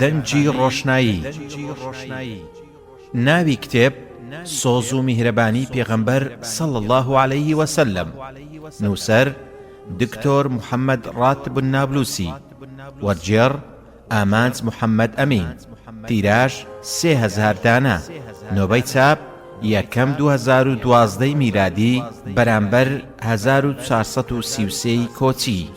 دەنگی ڕۆشنایی ناوی کتێب، سۆز و میهرەبانی پێغەمبەر صلی اللە علیە وسلم نووسەر، دکتۆر محمد راتب النابلسی وەرگێڕ، ئامانج محمد امین تیراژ، سێ هەزار دانە نۆبەی چاپ، یەکەم، دوو هەزار و دوازدە میلادی بەرامبەر هەزار و چوار سەد و سی و سێ ی کۆچی.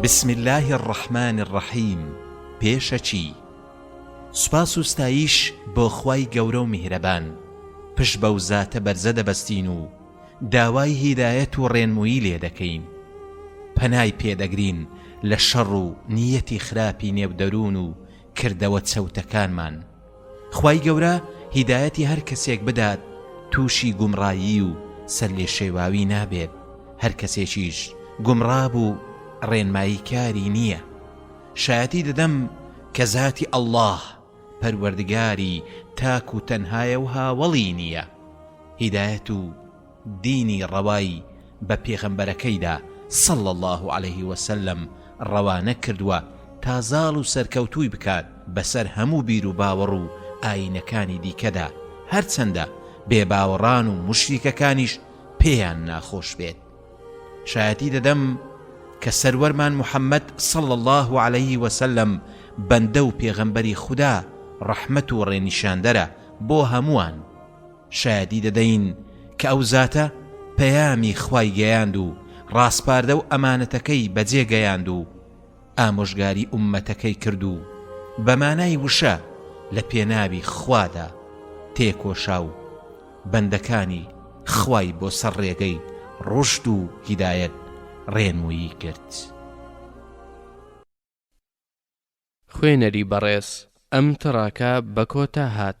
بسم اللە الرحمن الرحیم پێشەکی سوپاس و ستایش بۆ خوای گەورە و میهرەبان پشت بەو زاتە بەرزە دەبەستین و داوای هیدایەت و ڕێنمووی لێ دەکەین پەنای پێ دەگرین لە شەڕ و نیەتی خراپی نێو دەروون و کردەوە چەوتەکانمان خوای گەورە هیدایەتی هەر کەسێک بدات تووشی گومڕایی و سەرلێشێواوی نابێت هەر کەسێکیش گومڕا بوو ڕێنمایی کاری نییە شایەتی دەدەم کە زاتی اللە پەروەردگاری تاک و تەنهایە و هاوەڵی نییە هیدایەت و دینی ڕەوای بە پێغەمبەرەکەیدا، صلی اللە علیه وسلم، ڕەوانە کردووە تا زاڵ و سەرکەوتووی بکات بەسەر هەموو بیروباوەڕ و ئایینەکانی دیکەدا، هەرچەندە بێباوەڕان و موشریکەکانیش پێیان ناخۆش بێت. شایەتی دەدەم کە سەروەرمان محمد، صلی اللە علیه وسلم، بەندە و پێغەمبەری خودا، ڕەحمەت و ڕێنیشاندەرە بۆ هەمووان. شایەدی دەدەین کە ئەو زاتە پەیامی خوای گەیاند و ڕاسپاردە و ئەمانەتەکەی بەجێ گەیاند و ئامۆژگاری ئوممەتەکەی کرد و بە مانای وشە لە پێناوی خوادا تێکۆشا و بەندەکانی خوای بۆ سەر ڕێگەی ڕوشد و هیدایەت ڕێنموویی کرد. خوێنەری بەڕێز ئەم تڕاکە بە کۆتا هات.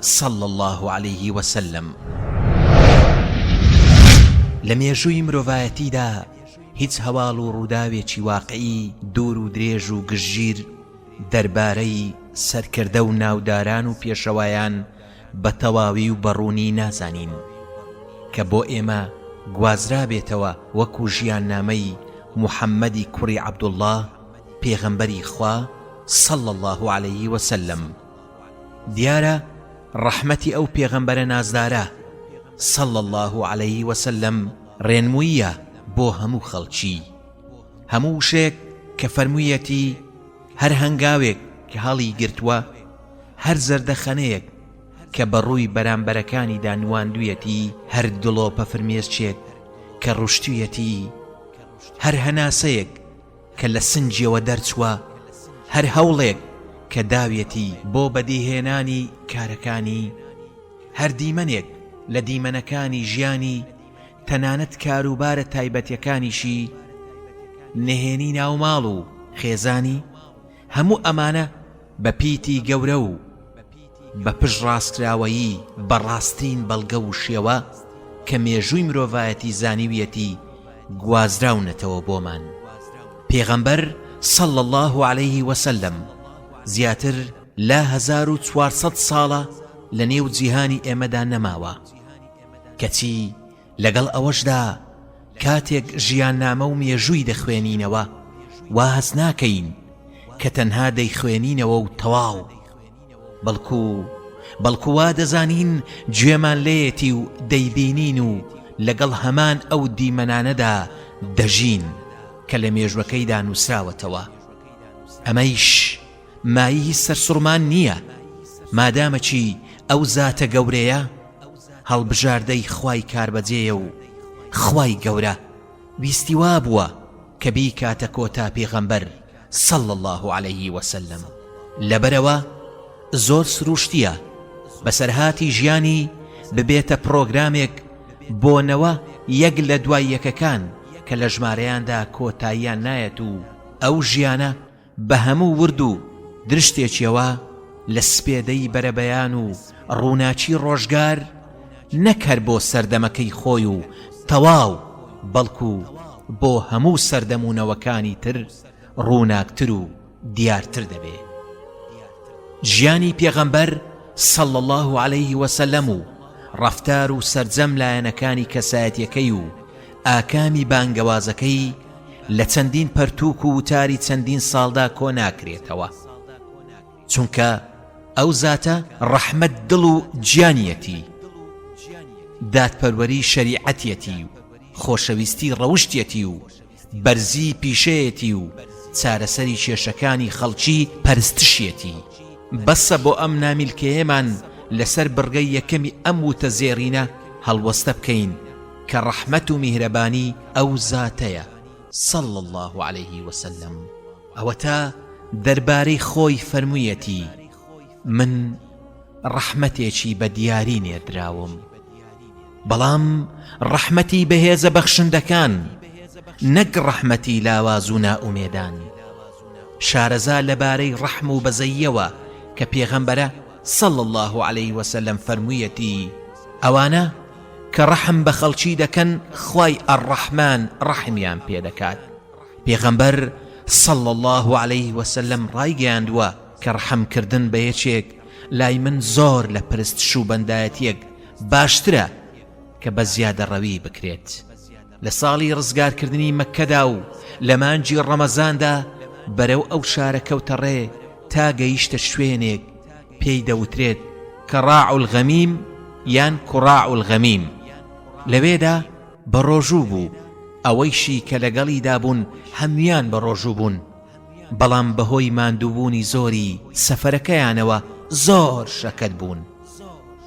صلی اللە علیه و سلم. لە مێژووی مرۆڤایەتیدا هیچ هەواڵ و ڕووداوێکی واقعی دوور و درێژ و گشتگیر دەربارەی سەرکردە و ناوداران و پێشەوایان بە تەواوی و بە ڕوونی نازانین کە بۆ ئێمە گوازرابێتەوە وەکوو ژیاننامەی محەممەدی کوڕی عەبدوڵڵا پێغەمبەری خوا صلی اللە علیه و سلم. دیارە ڕەحمەتی ئەو پێغەمبەرە نازدارە، صلی اللە علیە وسلم، ڕێنمووییە بۆ هەموو خەڵکی، هەموو وشەیەک کە فەرموویەتی، هەر هەنگاوێک کە هەڵیگرتووە، هەر زەردەخەنەیەک کە بە ڕووی بەرامبەرەکانیدا نواندوویەتی، هەر دڵۆپە فرمێسکێک کە ڕشتوویەتی، هەر هەناسەیەک، کە لە سنگیەوە دەرچوە هەر هەوڵێک کە داویەتی بۆ بەدیهێنانی کارەکانی هەر دیمەنێک لە دیمەنەکانی ژیانی تەنانەت کاروبارە تایبەتەکانیشی نهێنی ناوماڵ و خێزانی هەموو ئەمانە بە پیتی گەورە و بە پشتڕاستکراوەیی بە ڕاستترین بەڵگە و شێوە کە مێژووی مرۆڤایەتی زانیویەتی گوازراونەتەوە بۆمان. پێغەمبەر، صلی اللە علیه و سلم، زیاتر لە هەزار و چوار سەد ساڵە لەنێو جیهانی ئێمەدا نەماوە، کەچی لەگەڵ ئەوەشدا کاتێک ژیاننامە و مێژووی دەخوێنینەوە وا هەست ناکەین کە تەنها دەیخوێنینەوە و تەواو بەڵکو بەڵکو وا دەزانین گوێمان لێیەتی و دەیبینین و لەگەڵ هەمان ئەو دیمەنانەدا دەژین کە لە مێژوەکەیدا نووسراوەتەوە ئەمەیش مایهی سەرسوڕمان نییە مادامە چی ئەو زاتە گەورەیە هەڵبژاردەی خوای کاربەجێیە و خوای گەورە ویستی وابووە کە بیکاتە کۆتا پێغەمبەر صلی اللە علیه وسلم لەبەرئەوە زۆر سروشتییە بەسەرهاتی ژیانی ببێتە پڕۆگرامێک بۆ نەوە یەک لە دوای یەکەکان کە لە ژمارەیاندا کۆتاییان نایەت و ئەو ژیانە بە هەموو ورد و درشتێکیەوە لە سپێدەی بەرەبەیان و ڕووناکی ڕۆژگار، نەک هەر بۆ سەردەمەکەی خۆی و تەواو، بەڵکو بۆ هەموو سەردەم و نەوەکانی تر ڕووناکتر و دیارتر دەبێ. ژیانی پێغەمبەر صلی اللە علیه وسلم و ڕەفتار و سەرجەم لایەنەکانی کەسایەتیەکەی و ئاکامی بانگەوازەکەی لە چەندین پەرتووک و وتاری چەندین ساڵدا کۆ ناکرێتەوە، چونکە ئەو زاتە ڕەحمەت دڵ و گیانیەتی، دادپەروەری شەریعەتیەتی و خۆشەویستی ڕەوشتیەتی و بەرزی پیشەیەتی و چارەسەری کێشەکانی خەڵکی پەرستشیەتی، بەسە بۆ ئەم نامیلکەیەمان لەسەر بڕگەی یەکەمی ئەم وتە زێڕینە هەڵوەستە بکەین، کە ڕەحمەت و میهرەبانی ئەو زاتەیە، صلی اللە علیه و سلم، ئەوەتا دەربارەی خۆی فەرموویەتی، من ڕەحمەتێکی بە دیاری نێردراوم، بەڵام ڕەحمەتی بەهێزە بەخشندەکان، نەک ڕەحمەتی لاواز و نائومێدان. شارەزا لەبارەی ڕەحم و بەزەییەوە کە پێغەمبەرە، صلی اللە علیه و سلم، فەرموویەتی، ئەوانە، کە ڕەحم بە خەڵکی دەکەن خوای الرحمن ڕەحمیان پێ دەکات پێغەمبەر صلی اللە علیه وسلم ڕایگەیاندووە کە ڕەحم کردن بە یەکێک لای من زۆر لە پرست شوبەندایەتیەک باشترە کە بە زیادە ڕەوی بکرێت. لە ساڵی ڕزگارکردنی مەککەدا و لە مانگی ڕەمەزاندا بەرەو ئەو شارە کەوتە ڕێ تا گەیشتە شوێنێک پێی دەوترێت کە ڕاع الغەمیم یان کوڕاع الغەمیم لەوێدا بە ڕۆژوو بوو ئەوەیشی کە لەگەڵیدا بوون هەموان بە ڕۆژوو بوون بەڵام بەهۆی ماندووبوونی زۆری سەفەرەکەیانەوە زۆر شەکەت بوون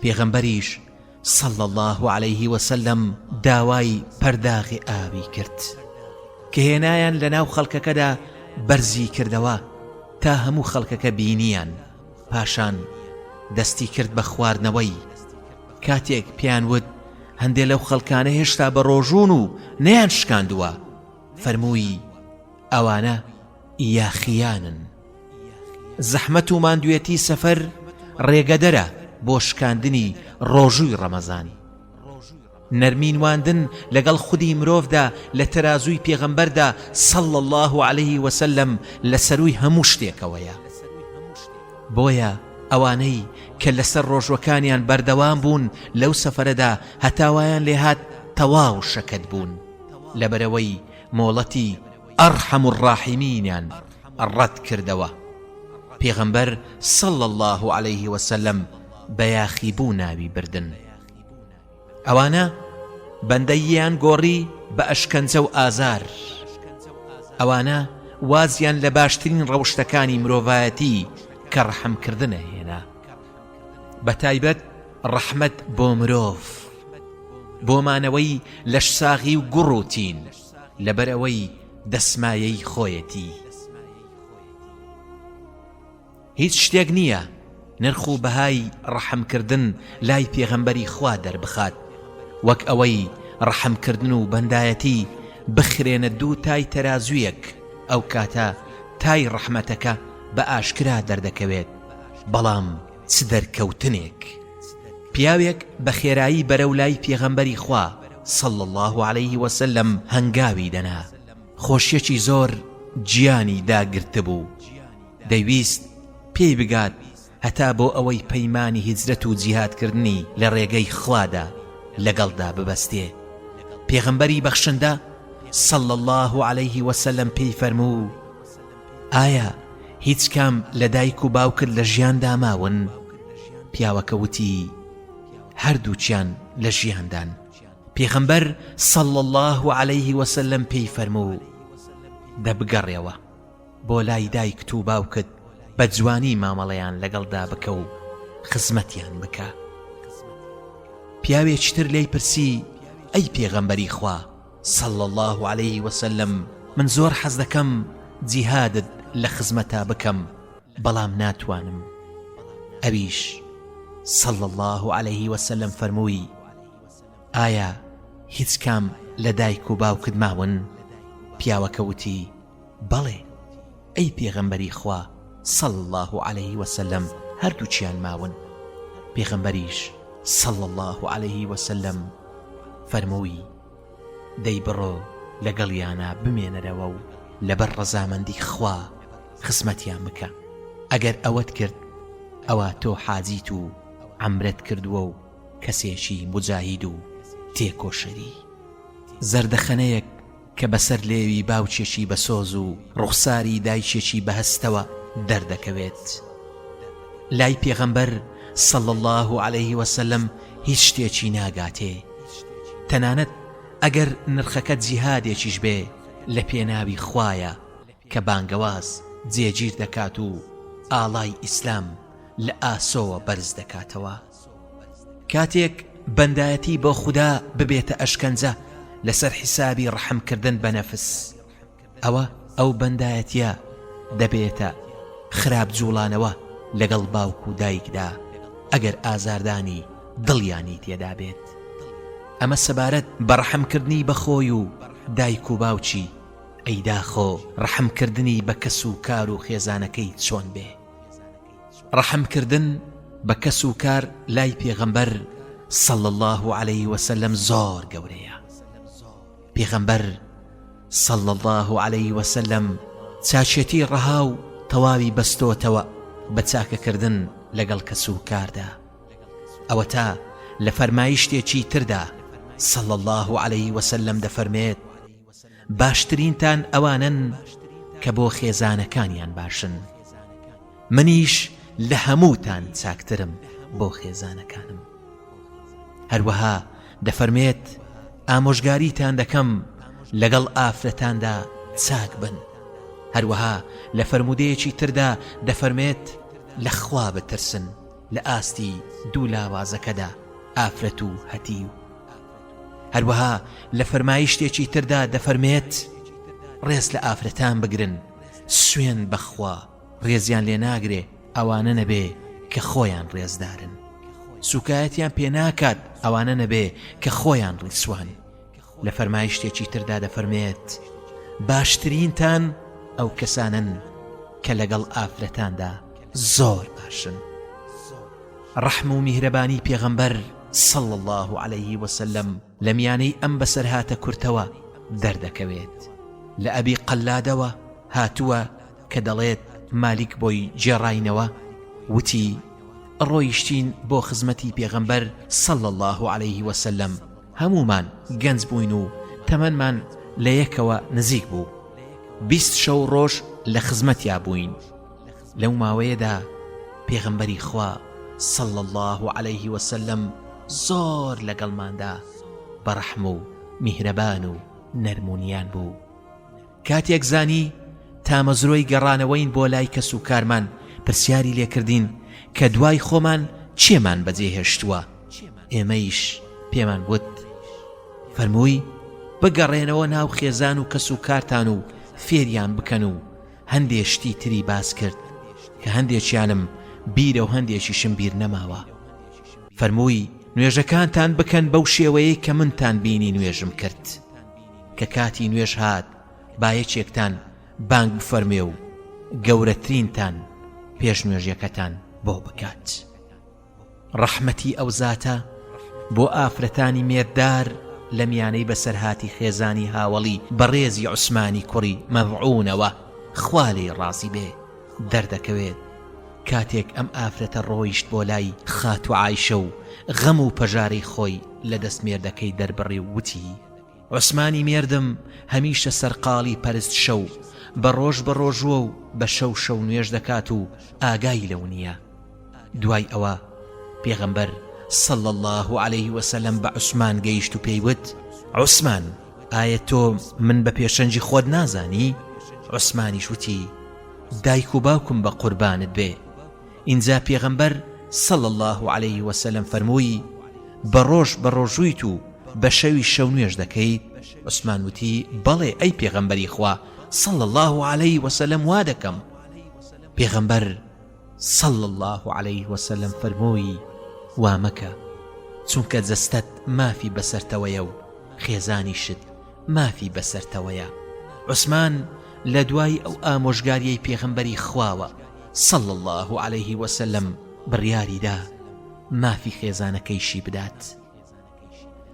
پێغەمبەریش صلی اللە علیه وسلم داوای پەرداغی ئاوی کرد کە هێنایان لە ناو خەڵکەکەدا بەرزی کردەوە تا هەموو خەڵکەکە بینیان پاشان دەستی کرد بە خواردنەوەی کاتێک پیان وت هەندێ لەو خەڵکانە هێشتا بە ڕۆژون و نیان شکاندووە فەرمووی ئەوانە یاخییانن. زەحمەت و ماندوێتی سەفەر ڕێگەدەرە بۆ شکاندنی ڕۆژووی ڕەمەزان. نەرمی نواندن لەگەڵ خودی مرۆڤدا لە تەرازووی پێغەمبەردا صلی اللە علیه و سلم لە سەرووی هەموو شتێکەوەیە. بۆیە ئەوانەی کە لەسەر ڕۆژووەکانیان بەردەوام بوون لەو سەفەرەدا هەتا وایان لێهات تەواو شەکەت بوون لەبەرئەوەی مۆڵەتی ئەڕحەم الڕاحیمینیان ڕەت کردەوە پێغەمبەر صلی اللە علیە وسلم بە یاخی بوو ناوی بردن ئەوانە بەندەییان گۆڕی بە ئەشکەنجە و ئازار ئەوانە وازیان لە باشترین ڕەوشتەکانی مرۆڤایەتی کە ڕەحمکردنە هێنا بە تایبەت ڕەحمەت بۆ مرۆڤ بۆ مانەوەی لەش ساغی و گوڕوتین لەبەر ئەوەی دەسمایەی خۆیەتی هیچ شتێک نییە نرخ و بەهای ڕەحمکردن لای پێغەمبەری خوا دەربخات وەک ئەوەی ڕەحمکردن و بەندایەتی بخرێنە دوو تای تەرازویەک ئەو کاتە تای ڕەحمەتەکە بە ئاشکرا دەردەکەوێت بەڵام چ دەرکەوتنێک! پیاوێک بە خێرایی بەرەو لای پێغەمبەری خوا، صلی اللە علیه وسلم، هەنگاوی دەنا، خۆشیەکی زۆر گیانی داگرتبوو، دەیویست پێی بگات هەتا بۆ ئەوەی پەیمانی هیجرەت و جیهادکردنی لە ڕێگەی خوادا لەگەڵدا ببەستێ، پێغەمبەری بەخشندە، صلی اللە علیه وسلم، پێی فەرموو، ئایا هیچ کام لە دایک و باوکت لە ژیاندا ماون؟ پیاوەکە وتی، هەردووکیان لە ژیاندان. پێغەمبەر صلی اللە علیه و سلم پێی فەرموو، دە بگەڕێوە بۆ لای دایکت و باوکت بە جوانی مامەڵەیان لەگەڵدا بکە و خزمەتیان بکە. پیاوێکی تر لێی پرسی، ئەی پێغەمبەری خوا، صلی اللە علیە وسلم من زۆر حەز دەکەم جیهادت لە خزمەتا بکەم بەڵام ناتوانم ئەویش صلی اللە علیە وسلم فەرمووی ئایا هیچ کام لە دایک و باوکت ماون پیاوەکە وتی بەڵێ ئەی پێغەمبەری خوا صلی اللە علیە وسلم هەردووکیان ماون پێغەمبەریش صلی اللە علیە وسلم فەرمووی دەی بڕۆ لەگەڵیانا بمێنەرەوە و لەبەر ڕەزامەندی خوا خزمەتیان بکە ئەگەر ئەوەت کرد ئەوە تۆ حاجیت و عەمرەت کردووە و کەسێکی مجاهید و تێکۆشەری زەردەخەنەیەک کە بەسەر لێوی باوکێکی بەسۆز و ڕوخساری دایکێکی بەهەستەوە دەردەکەوێت. لای پێغەمبەر، صلی اللە علیه وسلم، هیچ شتێکی ناگاتێ، تەنانەت ئەگەر نرخەکە جیهادێکیش بێ، لەپێناوی خوایە کە بانگەواز جێگیر دەکات و ئاڵای ئیسلام لە ئاسۆوە بەرز دەکاتەوە. کاتێک بەندایەتی بۆ خودا ببێتە ئەشکەنجە لەسەر حیسابی ڕەحمکردن بە نەفس ئەوە ئەو بەندایەتە دەبێتە خراپ جوڵانەوە لەگەڵ باوک و دایکدا ئەگەر ئازاردانی دڵیانی تێدا بێت ئەمە سەبارەت بەڕەحمکردنی بەخۆی و دایک و باوچی ئەیداخۆ ڕەحمکردنی بە کەس و کار و خێزانەکەی چۆن بێ ڕەحم کردن بە کەس و کار لای پێغەمبەر صلی اللە علیه و سلم زۆر گەورەیە پێغەمبەر صلی اللە علیه و سلم چاچێتی ڕەها و تەواوی بەستۆتەوە بە چاکەکردن لەگەڵ کەس و کاردا ئەوە تا لە فەرمایشتێکی تردا صلى الله عليه وسلم دەفەرمێت باشترینتان ئەوانەن کە بۆ خێزانەکانیان باشن منیش لە هەمووتان چاکترم بۆ خێزانەکانم هەروەها دەفەرمێت ئامۆژگاریتان دەکەم لەگەڵ ئافرەتاندا چاک بن هەروەها لە فەرمودەیەکی تردا دەفەرمێت لە خوا بترسن لە ئاستی دوو لاوازەکەدا، ئافرەت و هەتیو. هەروەها لە فەرمایشتێکی تردا دەفەرمێت، ڕێز لە ئافرەتان بگرن، سوێند بە خوا، ڕێزیان لێ ناگرێ ئەوانە نەبێ کە خۆیان ڕێزدارن. سووکایەتیان پێ ناکات ئەوانە نەبێ کە خۆیان ڕیسوان. لە فەرمایشتێکی تردا دەفەرمێت باشترینتان ئەو کەسانن کە لەگەڵ ئافرەتاندا زۆر باشن ڕەحم و میهرەبانی پێغەمبەر صلى الله عليه وسلم لە میانەی ئەم بەسەرهاتە کورتەوە دەردەکەوێت لە ئەبی قەلادەوە هاتووە کە دەڵێت مالیک بۆی جێڕاینەوە وتی ڕۆیشتین بۆ خزمەتی پێغەمبەر صلى الله عليه وسلم هەموومان گەنج بووین و تەمەنمان لە یەکەوە نزیک بوو بیست شەو ڕۆژ لە خزمەتیا بووین لەو ماوەیەدا پێغمبەری خوا صلى الله عليه وسلم زۆر لەگەڵماندا بەڕەحم و میهرەبان و نەرمونیان بوو کاتێک زانی تامەزرۆی گەڕانەوەین بۆ لای کەس و کارمان پرسیاری لێکردین کە دوای خۆمان چێمان بەجێ هێشتووە ئێمەیش پێمان وت فەرمووی بگەڕێنەوە ناو خێزان و کەس و کارتان و فێریان بکەن و هەندێ شتی تری باس کرد کە هەندێکیانم بیرە و هەندێکیشم بیر نەماوە فەرمووی نوێژەکانتان بکەن بەو شێوەیە کە منتان بینی نوێژم کرد. کە کاتی نوێژ هات با یەکێکتان بانگ بفەرمێ و گەورەترینتان پێش نوێژەکەتان بۆ بکات ڕەحمەتی ئەو زاتە بۆ ئافرەتانی مێردار لە میانەی بەسەرهاتی خێزانی هاوەڵی بەڕێزی عوسمانی کوڕی مەڤعونەوە خوالی ڕازی بێ دەردەکەوێت کاتێک ئەم ئافرەتە ڕۆیشت بۆ لای خاتوعایشە و غەم و پەژارەی خۆی لە دەستمێردەکەی دەربڕی و وتی عوسمانی مێردم هەمیشە سەرقاڵی پەرست شەو بە ڕۆژ بە ڕۆژووە و بە شەو شەو نوێژ دەکات و ئاگای لەو نییە دوای ئەوە پێغەمبەر صلی اللە علیه وسلم بە عوسمان گەیشت و پێیوت عوسمان ئایا تۆ من بە پێشەنجی خۆت نازانی؟ عوسمانیش وتی دایک و باوکم بە قوربانت بێ ئینجا پێغەمبەر، صلی اللە علیە وسلم، فەرمووی، بە ڕۆژ بەڕۆژوویت و بە شەویش شەو نوێژ دەکەیت؟ عوسمان وتی، بەڵێ ئەی پێغەمبەری خوا، صلی اللە علیە وسلم، وا دەکەم. پێغەمبەر، صلی اللە علیە وسلم، فەرمووی، وا مەکە، چونکە جەستەت مافی بەسەرتەوەیە و خێزانیشت مافی بەسەرتەوەیە. عوسمان لە دوای ئەو ئامۆژگاریەی پێغەمبەری خواوە، صلی اللە علیه وسلم، بڕیاری دا مافی خێزانەکەیشی بدات.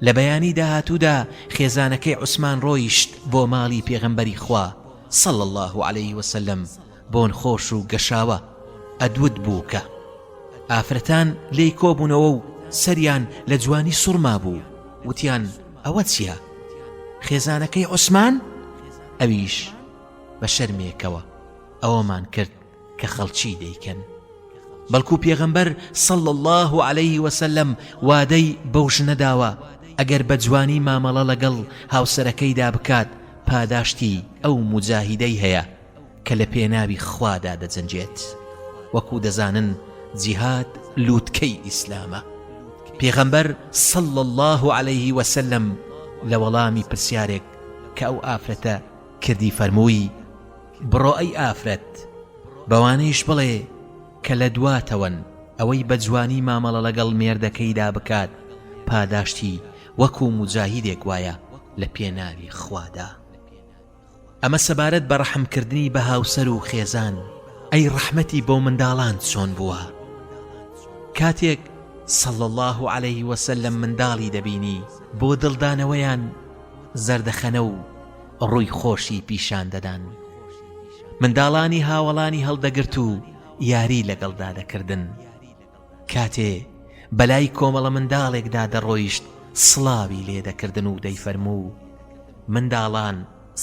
لە بەیانی داهاتوودا خێزانەکەی عوسمان ڕۆیشت بۆ ماڵی پێغەمبەری خوا، صلی اللە علیه وسلم، بۆن خۆش و گەشاوە، ئەدود بوو کە. ئافرەتان لێی کۆبوونەوە و سەریان لە جوانی سوڕمابوو، وتیان، ئەوە چیە؟ خێزانەکەی عوسمان؟ ئەویش بە شەرمێکەوە. ئەوەمان کرد کە خەڵکی دەیکەن بەڵکو پێغەمبەر صلى الله عليه وسلم وادەی بەو ژنە داوە ئەگەر بە جوانی مامەڵە لەگەڵ هاوسەرەکەیدا بکات پاداشتی ئەو مجاهیدەی هەیە کە لە پێناوی خوادا دەجەنجێت وەکو دەزانن جیهاد لووتکەی ئیسلامە پێغەمبەر صلى الله عليه وسلم لە وەڵامی پرسیارێک کە ئەو ئافرەتە کردی فەرمووی بڕۆ ئەی ئافرەت بەوانەیش بڵێ کە لە دواتەوەن، ئەوەی بە جوانی مامەڵە لەگەڵ مێردەکەیدا بکات پاداشتی وەکو موجاهیدێک وایە لە پێناوی خوادا. ئەمە سەبارەت بە ڕەحمکردنی بە هاوسەر و خێزان، ئەی ڕەحمەتی بۆ منداڵان چۆن بووە؟ کاتێک، صلی اللە علیه وسلم، منداڵی دەبینی، بۆ دڵدانەوەیان زەردەخەنە و، ڕووی خۆشی پیشان دەدان و منداڵانی هاوەڵانی هەڵدەگرت و یاری لەگەڵدا دەکردن کاتێ بەلای کۆمەڵە منداڵێکدا دەڕۆیشت سڵاوی لێ دەکردن و دەیفەرموو منداڵان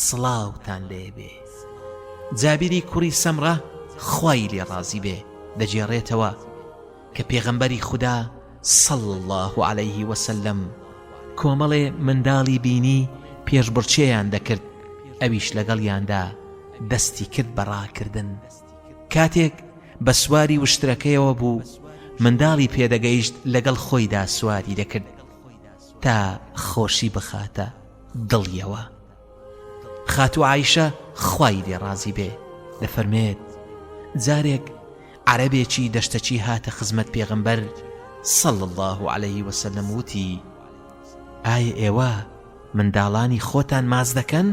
سڵاوتان لێبێ جابیری کوڕی سەمڕە خوای لێ ڕازی بێ دەجێڕێتەوە کە پێغەمبەری خودا، صلی اللە علیه وسلم، کۆمەڵێ منداڵی بینی پێشبڕکێیان دەکرد، ئەویش لەگەڵیاندا دەستی کرد بە ڕاکردن، کاتێک بە سواری وشترەکەیەوە بوو، منداڵی پێدەگەیشت لەگەڵ خۆیدا سواری دەکرد تا خۆشی بخاتە دڵیەوە. خاتوو عیشە خوای لێ ڕازی بێ دەفەرمێت جارێک عەرەبێکی دەشتەچی هاتە خزمەت پێغمبەر سەڵ الله عليه وسلم وتی ئایا ئێوە منداڵانی خۆتان ماز دەکەن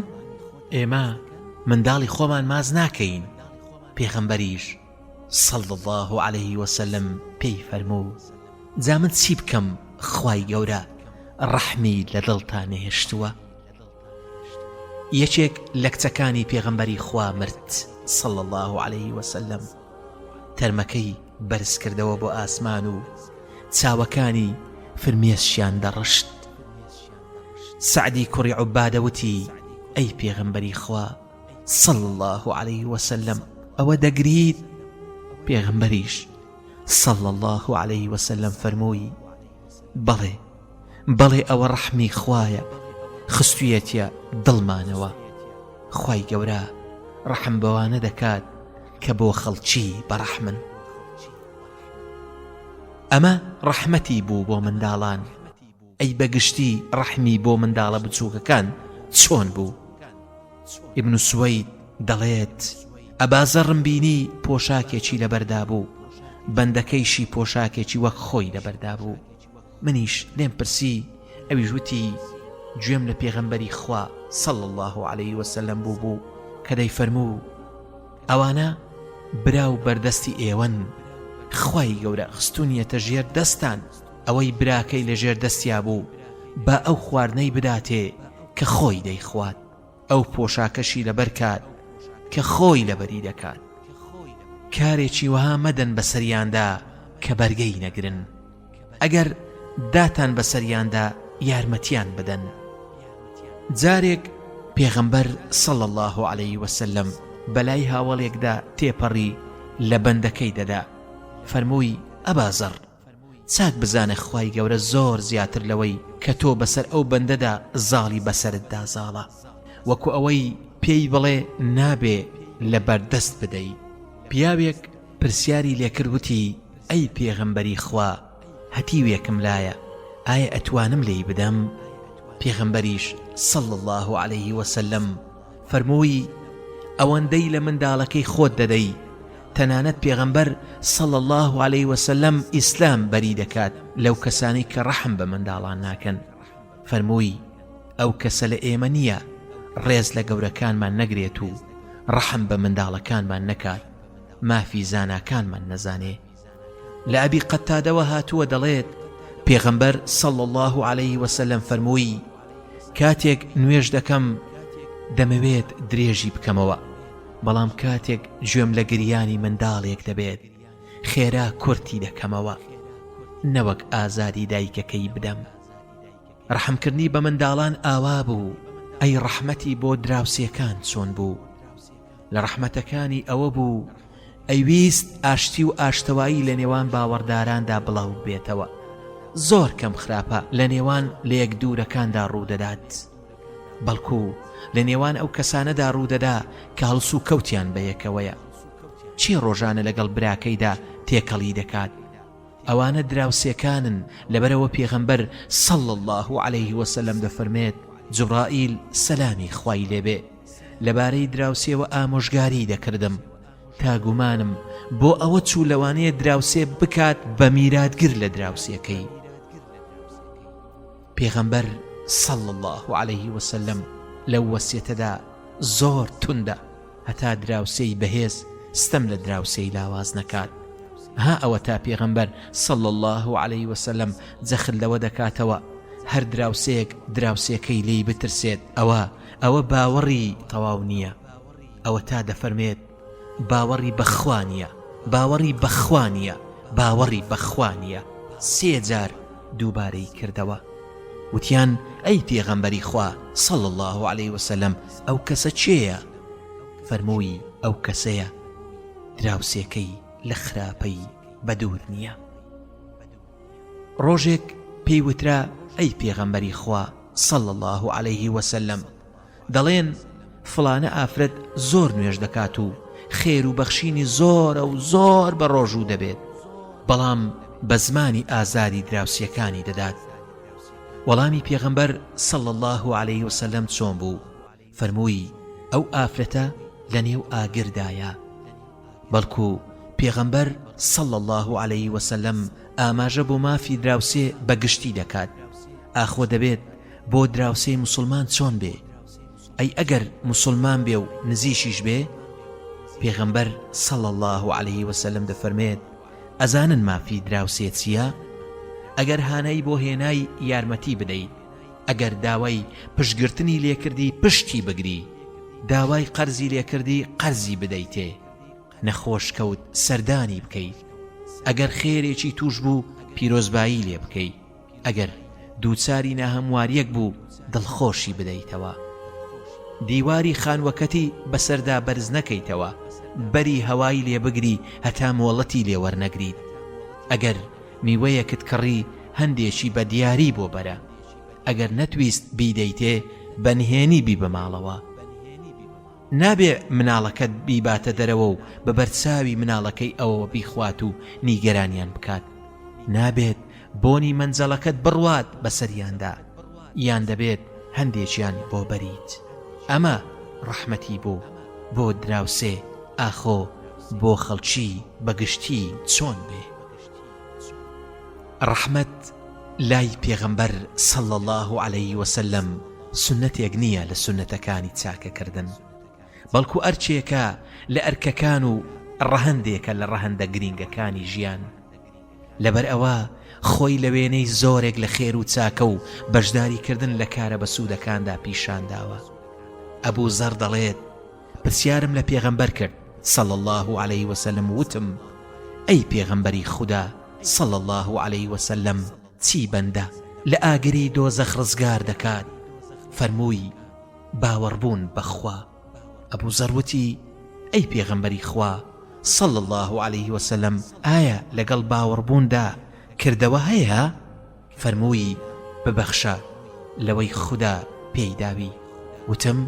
ئێمە منداڵی خۆمان ماز ناکەین پێغمبەریش سەڵ الله عليه وسلم پێی فەرموو جا من چی بکەم خی گەورە ڕەحمی لە دڵتان نەهێشتووە یەکێک لە کچەکانی پێغەمبەری خوا مرد صلی الله عليه وسلم تەرمەکەی بەرزکردەوە بۆ ئاسمان و چاوەکانی فرمێسکیان دەڕشت سعدی کوڕی عوبادەوتی ئەی پێغەمبەری خوا صلی الله عليه وسلم ئەوە دەگریت پێغەمبەریش صلی الله عليه وسلم فەرمووی بەڵێ بەڵێ ئەوە ڕەحمی خوایە خستویەتیە دڵمانەوە خوای گەورە ڕەحم بەوانە دەکات کە بۆ خەڵکی بەڕەحمن ئەمە ڕەحمەتی بوو بۆ منداڵان ئەی بەگشتی ڕەحمی بۆ منداڵە بچووکەکان چۆن بوو ئیبن سوەید دەڵێت ئەبازەڕم بینی پۆشاکێکی لەبەردا بوو بەندەکەیشی پۆشاکێکی وەک خۆی لەبەردا بوو منیش لێم پرسی ئەویش وتی گوێم لە پێغەمبەری خوا سەڵ الله عليه وسلم بوو بوو کە دەی فەرموو ئەوانە برا و بەردەستی ئێوەن خی گەورە خستونیەتە ژێر دەستان ئەوەی براکەی لە ژێر دەستیا بوو با ئەو خواردنەی بداتێ کە خۆی دەیخوات ئەو پۆشاکەشی لەبەر کات کە خۆی لەبەری دەکات کارێکی وەها مەدەن بەسەریاندا کە بەرگەی نەگرن ئەگەر داتان بەسەریاندا یارمەتیان بدەن جارێک پێغەمبەر سەڵ الله عليه وسلم بەلای هاوڵێکدا تێپەڕی لە بەندەکەی دەدا فەرمووی ئەبازڕ چاک بزانە خوای گەورە زۆر زیاتر لەوەی کە تۆ بەسەر ئەو بەندەدا زاڵی بەسەرتدا زاڵە وەکو ئەوەی پێی بڵێ نابێ لەبەر دەست بدەی. پیاوێک پرسیاری لێکرد وتی، ئەی پێغەمبەری خوا هەتیوێکم لایە ئایا ئەتوانم لێی بدەم؟ پێغەمبەریش، صلی اللە علیه وسلم، فەرمووی، ئەوەندەی لە منداڵەکەی خۆت دەدەی، تەنانەت پێغەمبەر، صلی اللە علیە وسلم، ئیسلام بەری دەکات لەو کەسانەی کە ڕەحم بە منداڵان ناکەن، فەرمووی، ئەو کەسە لە ئێمە نییە ڕێز لە گەورەکانمان نەگرێت و ڕەحم بە منداڵەکانمان نەکات، مافی زاناکانمان نەزانێ. لە ئەبی قەتادەوە هاتووە دەڵێت، پێغەمبەر صلی اللە علیه وسلم فەرمووی، کاتێک نوێژ دەکەم دەمەوێت درێژی بکەمەوە، بەڵام کاتێک گوێم لە گریانی منداڵێک دەبێت خێرا کورتی دەکەمەوە نەوەک ئازادی دایکەکەی بدەم. ڕەحمکردنی بە منداڵان ئاوا بوو، ئەی ڕەحمەتی بۆ دراوسێکان چۆن بوو؟ لە ڕەحمەتەکانی ئەوە بوو ئەیویست ئاشتی و ئاشتەوایی لە نێوان باوەڕداراندا بڵاوببێتەوە، زۆر کەم خراپە لە نێوان لەیەک دوورەکاندا ڕوودەدات، بەڵکو لە نێوان ئەو کەسانەدا ڕوودەدا کە هەڵسوکەوتیان بەیەکەوەیە. کێ ڕۆژانە لەگەڵ براکەیدا تێکەڵی دەکات؟ ئەوانە دراوسێکانن، لەبەرئەوە پێغەمبەر، صلی اللە علیه وسلم، دەفەرمێت، جوبرائیل، سەلامی خوای لێبێ، لەبارەی دراوسێوە ئامۆژگاریی دەکردم، تا گومانم بۆ ئەوە چوو لەوانەیە دراوسێ بکات بە میراتگر لە دراوسێکەی. پێغەمبەر صلی الله علیه وسلم لەو وەسیەتەدا زۆر توندە هەتا دراوسێی بەهێز ستەم لە دراوسێی لاواز نەکات. ها ئەوە تا پێغەمبەر صلی الله عليه وسلم جەخت لەوە دەکاتەوە هەر دراوسێک دراوسێکەی لی بترسێت ئەوە ئەوە باوەڕی تەواو نییە ئەوە تا دەفەرمێت باوەڕی بەخوا نییە باوەڕی بەخوا نییە باوەڕی بەخوا نییە سێ جار دووبارەی کردەوە وتیان ئەی پێغەمبەری خوا صلی الله عليه وسلم ئەو کەسە چێە فەرمووی ئەو کەسەیە دراوسێکەی لە خراپەی بەدوور نییە ڕۆژێک پێی وترا، ئەی پێغەمبەری خوا صلی اللە علیه و سلم، دەڵێن فڵانە ئافرەت زۆر نوێژ دەکات و خێر و بەخشینی زۆرە و زۆر بە ڕۆژوو دەبێت، بەڵام بە زمانی ئازادی دراوسێکانی دەدات، وەڵامی پێغەمبەر صلی اللە علیه و سلم چۆن بوو؟ فەرمووی، ئەو ئافرەتە لە نێو ئاگردایە. بەڵکو پێغەمبەر، صلی اللە علیە وسلم، ئاماژە بۆ مافی دراوسێ بە گشتی دەکات، ئاخۆ دەبێت بۆ دراوسێی موسڵمان چۆن بێ؟ ئەی ئەگەر موسڵمان بێ و نزیکیش بێ؟ پێغەمبەر، صلی اللە علیە وسلم، دەفەرمێت، ئەزانن مافی دراوسێ چییە؟ ئەگەر هانای بۆ هێنای یارمەتی بدەیت. ئەگەر داوای پشگرتنی لێ کردی پشتی بگری داوای قەرزی لێ کردی قەرزی بدەیتێ نەخۆش کەوت سەردانی بکەی ئەگەر خێرێکی توش بوو پیرۆزبایی لێ بکەی ئەگەر دووچاری ناهەمواریەک بوو دڵخۆشی بدەیتەوە دیواری خانوەکەتی بەسەردا بەرز نەکەیتەوە بەری هەوای لێ بگری هەتا مۆڵەتی لێ وەرنەگریت ئەگەر میوەیەکت کڕی هەندێکی بە دیاری بۆ بەرە ئەگەر نەتویست بیدەیتێ بە نهێنی بیبە ماڵەوە نابێ مناڵەکەت بیباتە دەرەوە و بە بەرچاوی مناڵەکەی ئەوەوە بیخوات و نیگەرانیان بکات نابێت بۆنی مەنجەڵەکەت بڕوات بەسەریاندا یان دەبێت هەندێکیان بۆ بەریت ئەمە ڕەحمەتی بۆ بۆ دراوسێ ئاخۆ بۆ خەڵکی بەگشتی چۆن بێ ڕەحمەت لای پێغەمبەر صلی اللە علیە وسلم سوننەتێک نییە لە سوننەتەکانی چاکەکردن بەڵکو ئەرکێکە لە ئەرکەکان و ڕەهەندێکە لە ڕەهەندە گرینگەکانی ژیان لەبەر ئەوە خۆی لە وێنەی زۆرێک لە خێر و چاکە و بەشداریکردن لە کارە بەسوودەکاندا پیشانداوە ئەبوو زەڕ دەڵێت پرسیارم لە پێغەمبەر کرد، صلی اللە علیە وسلم، وتم، ئەی پێغەمبەری خودا، صلی اللە علیە وسلم، چی بەندە لە ئاگری دۆزەخ ڕزگار دەکات؟ فەرمووی، باوەڕبوون بە خوا. ئەبو زەر وتی، ئەی پێغەمبەری خوا، صلی اللە علیە وسلم، ئایا لەگەڵ باوەڕبووندا کردەوە هەیە؟ فەرمووی، ببەخشە لەوەی خودا پێی داوی، وتم،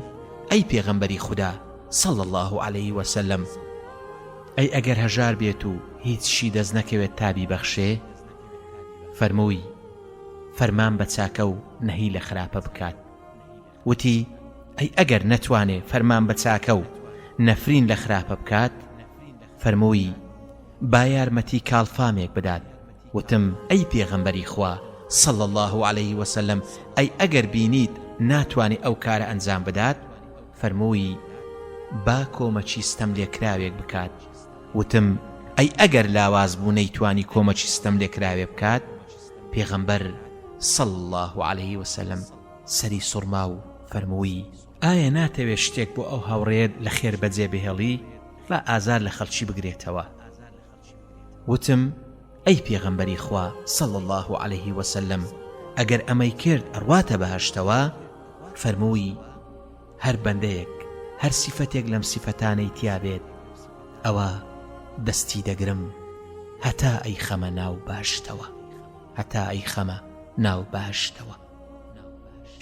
ئەی پێغەمبەری خودا، صلی اللە علیە وسلم، ئەی ئەگەر هەژار بێت و هیچشی دەست نەکەوێت تا بیبەخشێ؟ فەرمووی، فەرمان بە چاکە و نەهی لە خراپە بکات. وتی، ئەی ئەگەر نەتوانێ فەرمان بە چاکە و نەفرین لە خراپە بکات؟ فەرمووی، با یارمەتی کاڵفامێک بدات، وتم، ئەی پێغەمبەری خوا، صلی اللە علیه وسلم، ئەی ئەگەر بینیت ناتوانێ ئەو کارە ئەنجام بدات؟ فەرمووی، با کۆمەکی ستەملێکراوێک بکات، وتم، ئەی ئەگەر لاواز بوو نەیتوانی کۆمەکی ستەملێکراوێ بکات؟ پێغەمبەر، صلی اللە علیه وسلم، سەری سوڕما و فەرمووی، ئایا ناتەوێت شتێک بۆ ئەو هاوڕێیەت لە خێر بەجێ بهێڵی با ئازار لە خەڵکی بگرێتەوە؟ وتم، ئەی پێغەمبەری خوا صلی اللە علیه و سلم ئەگەر ئەمەی کرد ئەڕواتە بەهەشتەوە؟ فەرمووی، هەر بەندەیەک هەر سیفەتێک لەم سیفەتانەی تیا بێت ئەوا دەستی دەگرم هەتا ئەیخەمە ناو بەهەشتەوە.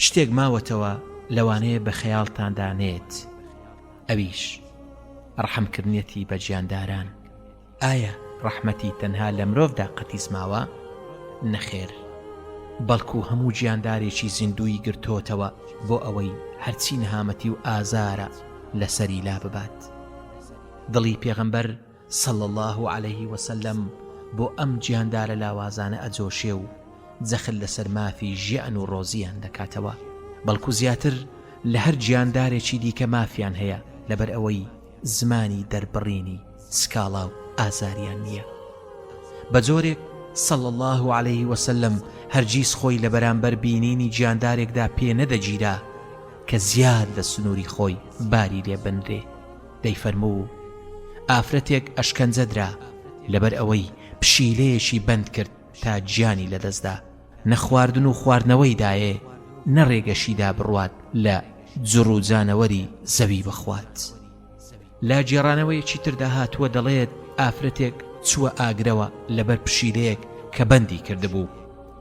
شتێک ماوەتەوە لەوانەیە بە خەیاڵتاندا نێت ئەویش ڕەحمکردنیەتی بە گیانداران ئایا ڕەحمەتی تەنها لە مرۆڤدا قەتیس ماوە نەخێر بەڵکو هەموو گیاندارێکی زیندووی گرتۆتەوە بۆ ئەوەی هەرچی نەهامەتی و ئازارە لەسەری لا ببات دڵی پێغەمبەر صلی اللە علیە وسلم بۆ ئەم گیاندارە لاوازانە ئەجۆشێ و جەخت لەسەر مافی ژیان و ڕۆزییان دەکاتەوە بەڵکو زیاتر لە هەر گیاندارێکی دیکە مافیان هەیە لەبەر ئەوەی زمانی دەربڕینی سکاڵا و ئازاریان نییە بە جۆرێک صلی اللە علیە وسلم هەرگیز خۆی لە بەرامبەر بینینی گیاندارێکدا پێ نەدەگیرا کە زیاد لە سنووری خۆی باری لێ بنرێ. دەیفەرموو، ئافرەتێک ئەشکەنجە درا لەبەر ئەوەی پشیلەیەکی بەند کرد تا گیانی لەدەستدا، نە خواردن و خواردنەوەی دایێ نە رێگەشی دا بڕوات لە جڕ و جانەوەری زەوی بخوات. لە گێڕانەوەیەکی تردا هاتووە دەڵێت، ئافرەتێک چووە ئاگرەوە لەبەر پشیلەیەک کە بەندی کردبوو،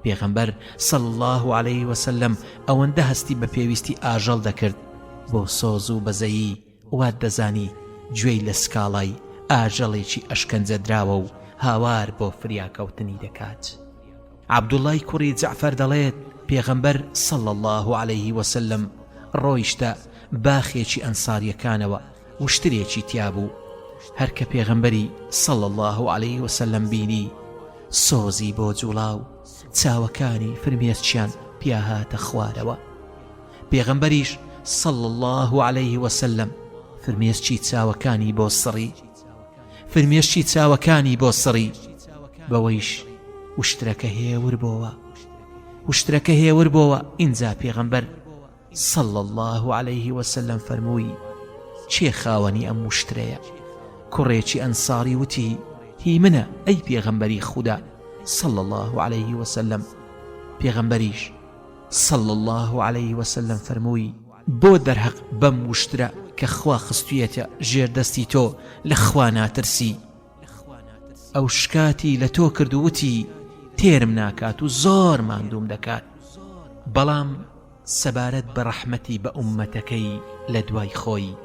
پێغەمبەر، صلی اللە علیه وسلم، ئەوەندە هەستی بە پێویستی ئاژەڵ دەکرد بۆ سۆز و بەزەیی، وات دەزانی گوێی لە سکاڵای ئاژەڵێکی ئەشکەنجەدراوە و هاوار بۆ فریاکەوتنی دەکات. عەبدوڵڵای کوڕی جەعفەر دەڵێت، پێغەمبەر، صلی اللە علیه وسلم، ڕۆیشتە باخێکی ئەنسارییەکانەوە، وشترێکی تیا بوو، هەر کە پێغەمبەری، صلی اللە علیه وسلم، بینی، سۆزی بۆ جوڵا و چاوەکانی فرمێسکیان پیاهاتە خوارەوە. پێغەمبەریش، صلی اللە علیه وسلم، فرمێسکی چاوەکانی بۆ سڕی، فرمێسکی چاوەکانی بۆ سڕی، بەوەیش وشترەکە هێور بۆوە، وشترەکە هێور بۆوە، ئینجا پێغەمبەر، صلی اللە علیه وسلم، فەرمووی، کێ خاوەنی ئەم وشترەیە؟ کوڕێکی ئەنساری وتی، هی منە، ئەی پێغەمبەری خودا، صلی اللە علیه وسلم، پێغەمبەریش، صلی اللە علیە وسلم فەرمووی، بۆ دەرهەق بەم وشترە کە خوا خستویەتە ژێر دەستی تۆ لە خوا ناترسی؟ ئەو شکاتی لە تۆ کرد و وتی، تێرم ناکات و زۆر ماندووم دەکات. بەڵام سەبارەت بە ڕەحمەتی بە ئوممەتەکەی لە دوای خۆی،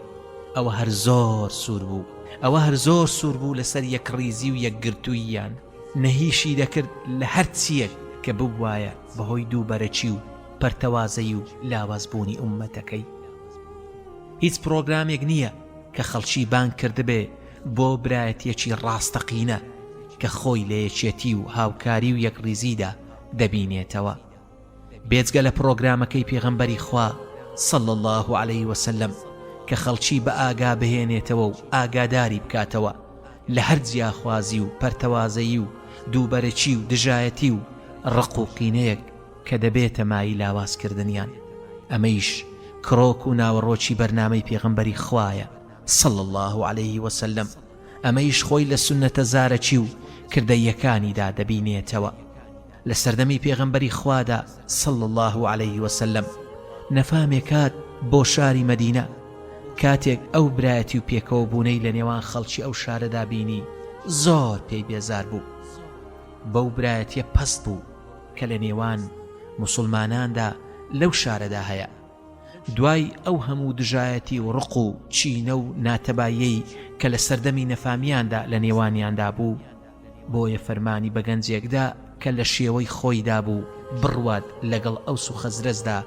ئەوە هەر زۆر سوور بوو، ئەوە هەر زۆر سوور بوو لەسەر یەکڕیزی و یەکگرتووییان. نەهیشی دەکرد لە هەر چییەک کە ببوایە بە هۆی دووبەرەکی و پەرتەوازەیی و لاواز بوونی ئوممەتەکەی. هیچ پرۆگرامێک نییە کە خەڵکی بانگ کردبێ بۆ برایەتییەکی ڕاستەقینە کە خۆی لە یەکێتی و هاوکاری و یەکڕیزیدا دەبینێتەوە. بێجگە لە پڕۆگرامەکەی پێغەمبەری خوا صلی اللە علیە وسلم کە خەڵکی بە ئاگا بهێنێتەوە و ئاگاداری بکاتەوە لە هەر جیاخوازی و پەرتەوازەیی و دووبەرەکی و دژایەتی و ڕق و قینەیەک کە دەبێتە مایەی لاوازکردنیان ئەمەیش کرۆک و ناوەڕۆکی بەرنامەی پێغەمبەری خوایە صلی اللە علیه وسلم ئەمەیش خۆی لە سوننەتە زارەکی و کردەییەکانیدا دەبینێتەوە لە سەردەمی پێغەمبەری خوادا، صلی اللە علیە وسلم، نەفامێ کات بۆ شاری مەدینە، کاتێک ئەو برایەتی و پێکەوە بوونەی لە نێوان خەڵکی ئەو شارەدا بینی زۆر پێی بێزار بوو، بەو برایەتیە پەست بوو کە لە نێوان موسڵماناندا لەو شارەدا هەیە، دوای ئەو هەموو دژایەتی و ڕق و کینە و ناتەباییەی کە لە سەردەمی نەفامیاندا لە نێوانیاندا بوو، بۆیە فەرمانی بە گەنجێک دا کە لە شێوەی خۆیدا بوو بڕوات لەگەڵ ئەوس و خەزرەجدا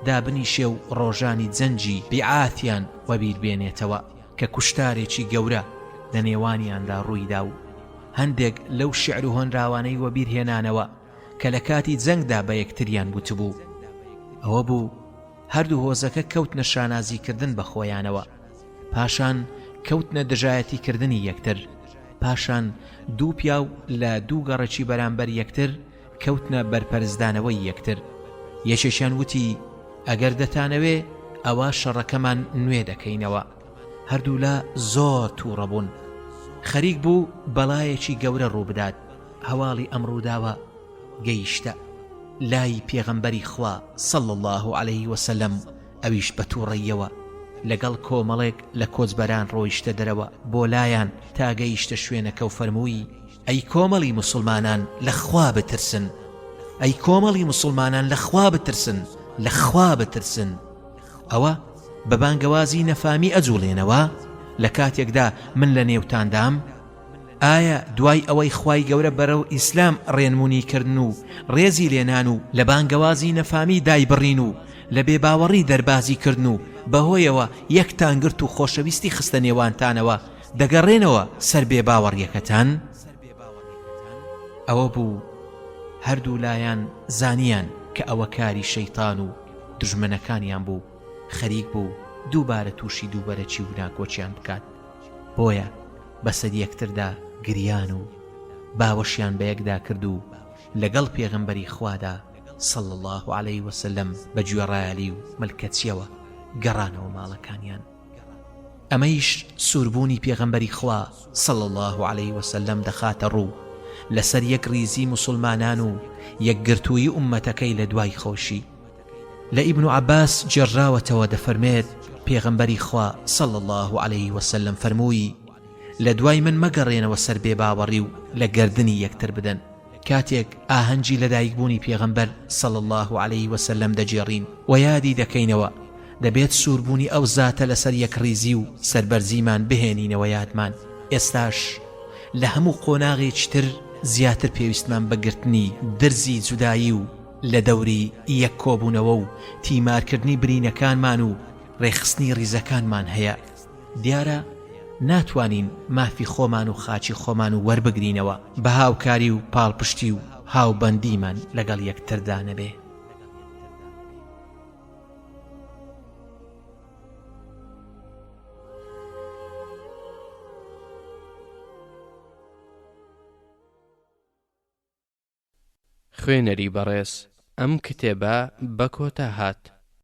دابنیشێ و ڕۆژانی جەنگی بیعاتیان وەبیر بێنێتەوە کە کوشتارێکی گەورە لە نێوانیاندا ڕووی دا و هەندێک لەو شیعر و هۆنراوانەی وەبیر هێنانەوە کە لە کاتی جەنگدا بە یەکتریان گوتبوو ئەوە بوو هەردوو هۆزەکە کەوتنە شانازیکردن بە خۆیانەوە پاشان کەوتنە دژایەتی کردنی یەکتر پاشان دوو پیاو لە دوو گەڕەکی بەرامبەر یەکتر کەوتنە بەرپەرچدانەوەی یەکتر یەکێکیان وتی ئەگەر دەتانەوێ ئەوا شەڕەکەمان نوێ دەکەینەوە هەردوولا زۆر تووڕەبوون خەریک بوو بەڵایەکی گەورە ڕووبدات هەواڵی ئەم ڕووداوە گەیشتە لای پێغەمبەری خوا صلى الله عليه وسلم ئەویش بە تووڕەییەوە لەگەڵ کۆمەڵێک لە کۆچبەران ڕۆیشتە دەرەوە بۆ لایان تا گەیشتە شوێنەکە و فەرمووی، ئەی کۆمەڵی موسڵمانان لە خوا بترسن، ئەی کۆمەڵی موسڵمانان لە خوا بترسن، لە خوا بترسن. ئەوە بە بانگەوازی نەفامی ئەجووڵێنەوە لە کاتێکدا من لە نێوتاندام؟ ئایا دوای ئەوەی خوای گەورە بەرەو ئیسلام ڕێنمونی کردن و ڕێزی لێنان و لە بانگەوازی نەفامی دایبڕین و لە بێ باوەڕی دەربازی کردن و بەهۆیەوە یەکتان گرت و خۆشەویستی خستە نێوانتانەوە دەگەڕێنەوە سەر بێ باوەڕیەکەتان ئەوە بوو هەردوو لایەن زانیان کە ئەوە کاری شەیتان و دژمنەکانیان بوو خەریک بوو دووبارە تووشی دووبەرەکی و ناکۆچیان بکات بۆیە بەسەر یەکتردا گریان و باوەشیان بەیەکدا کرد و لەگەڵ پێغەمبەری خوادا، صلی اللە علیە وسلم، بە گوێڕایەلی و ملکەچیەوە گەڕانەوە ماڵەکانیان. ئەمەیش سووربوونی پێغەمبەری خوا، صلی اللە علیە وسلم، دەخاتەڕوو لەسەر یەکڕیزی موسڵمانان و یەکگرتوویی ئوممەتەکەی لەدوای خۆشی. لە ئیبن عەباس گێڕراوەتەوە دەفەرمێت، پێغەمبەری خوا صلی اللە علیه وسلم فەرمووی، لە دوای من مەگەڕێنەوە سەر بێباوەڕی و لە گەردنی یەکتر بدەن. کاتێک ئاهەنگی لەدایکبوونی پێغەمبەر صلی اللە علیه وسلم دەگێڕین و یادی دەکەینەوە، دەبێت سووربوونی ئەو زاتە لەسەر یەکڕیزی و سەربەرزیمان بهێنینەوە یادمان. ئێستاش لە هەموو قۆناغێکی تر زیاتر پێویستمان بە گرتنی درزی جودایی و لە دەوری یەک کۆبوونەوە و تیمارکردنی برینەکانمان و رێکخستنی ریزەکانمان هەیە، دیارە ناتوانین مافی خۆمان و خاکی خۆمان وەربگرینەوە بە هاوکاری و پاڵپشتی و هاوبەندیمان لەگەڵ یەکتردا نەبێ. خوێنەری بەڕێز ئەم کتێبە بەکۆتا هات.